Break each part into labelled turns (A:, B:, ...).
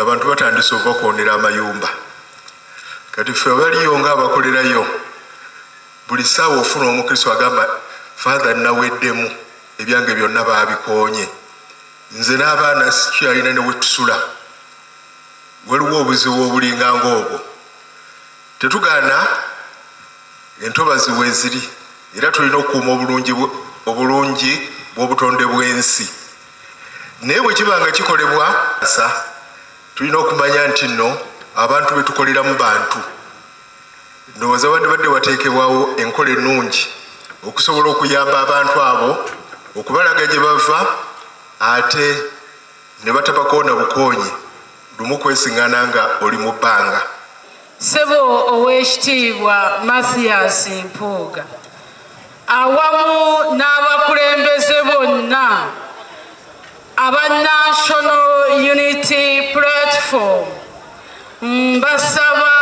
A: abantu batandise obakwonera amayumba kati fe baliyo nga abakolerayo buli saawa ofuna omukristo agamba fatha naweddemu ebyange byonna babikonye nze n'abaana sikyalina newetusula waliwo obuzibu obulinganga obwo tetugana entobazi weeziri era tulina okukuuma obulungi obulungi bw'obutonde bw'ensi naye bwe kiba nga kikolebwa sa tulina okumanya nti nno abantu be tukoleramu bantu ndowooza wandibadde wateekebwawo enkola ennungi okusobola okuyamba abantu abo okubalaga gye bava ate ne batabako na bukoonyi lumu kwesingana nga oli mu bbanga. Ssebo
B: Oweekitiibwa Mathias Mpuuga awamu n'abakulembeze bonna aba National Unity Platform mbasaba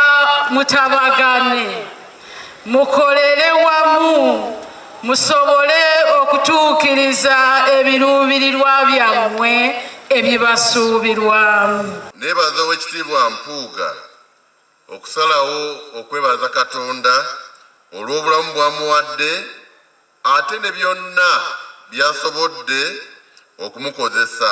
B: mutabagane mukolere wamu musobole okutuukiriza ebiruubirirwa byammwe ebibasuubirwamu nebaza owekitiibwa
C: mpuuga okusalawo okwebaza katonda olw'obulamu bwamuwadde ate ne byonna byasobodde okumukozesa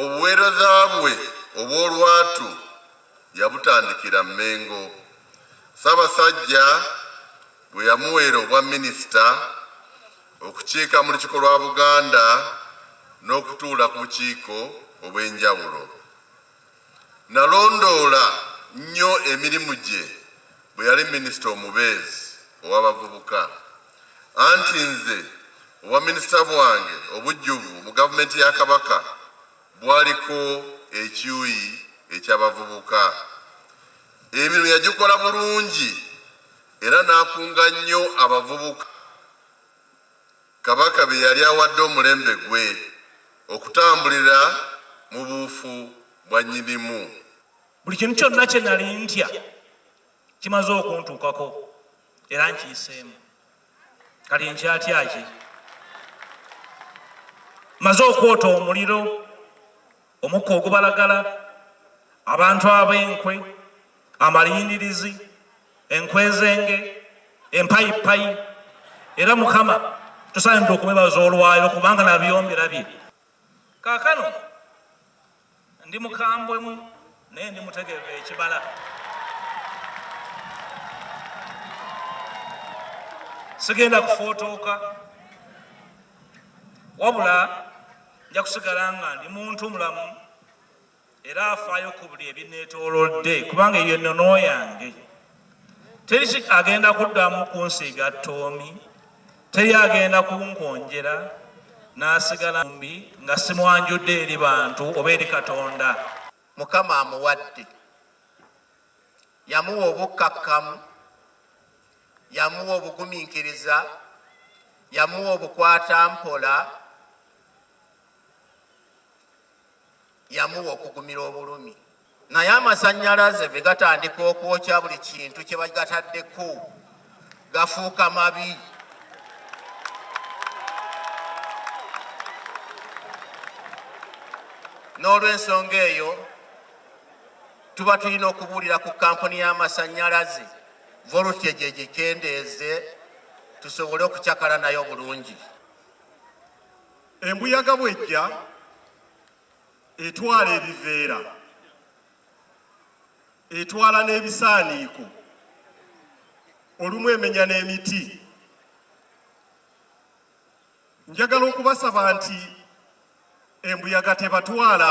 C: Obuweereza bwe obw'olwatu yabutandikira Mmengo, Ssaabasajja bwe yamuweera obwa minisita okukiika mu Lukiiko lwa Buganda n'okutuula ku bukiiko obw'enjawulo. Nalondoola nnyo emirimu gye bwe yali minisita omubeezi ow'abavubuka anti nze obwaminisita bwange obujjuvu mu gavumenti ya Kabaka bwaliko ekiuyi eky'abavubuka. Emirimu yagikola bulungi era n'akunga nnyo abavubuka. Kabaka be yali awadde omulembe gwe okutambulira mu buufu bwa Nnyinimu. Buli kintu
D: kyonna kye nali ntya kimaze okuntuukako era nkiyiseemu. Kati nkyatya ki? Maze okwota omuliro. omukka ogubalagala abantu ab'enkwe amalindirizi enkwezenge empayipayi era mukama tusaanidde okwebaza olwaliro kubanga nabyomberabye kaakano ndi mukambwemu naye ndi mutegevu ekibala sigenda kufootooka wabula nja kusigala nga ndi muntu mulamu era afaayo ku buli ebineetoolodde kubanga eyo ennono yange teri agenda kuddamu kunsiiga ttoomi teri agenda kunkonjera n'asigala mbi nga simwanjudde eri bantu oba eri katonda mukama
E: amuwadde yamuwa obukkakkamu Yamuwa obugumiikiriza, yamuwa obukwata mpola, yamuwa okugumira obulumi. Naye amasannyalaze bwe gatandika okwokya buli kintu kye bagataddeko gafuuka mabi. N'olw'ensonga eyo tuba tulina okubuulira ku kampuni y'amasannyalaze. volute gye gikendeeze tusobole okucakala nayo bulungi.
F: Embuyaga bwejja etwala ebiveera, etwala n'ebisaaniiko, olumu emenya n'emiti. Njagala okubasaba nti embuyaga tebatwala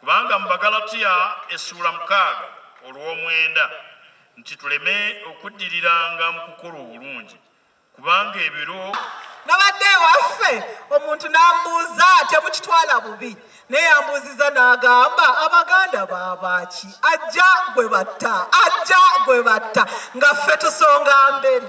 G: Kubanga mu Bagalatiya essuula mukaaga olw'omwenda nti tuleme okuddiriranga mu kukola obulungi kubanga ebiro nabadde
H: ewaffe omuntu n'ambuuza temukitwala bubi naye yambuuziza n'agamba abaganda baabaaki ajja gwe batta ajja gwe batta nga ffe tusonga mbere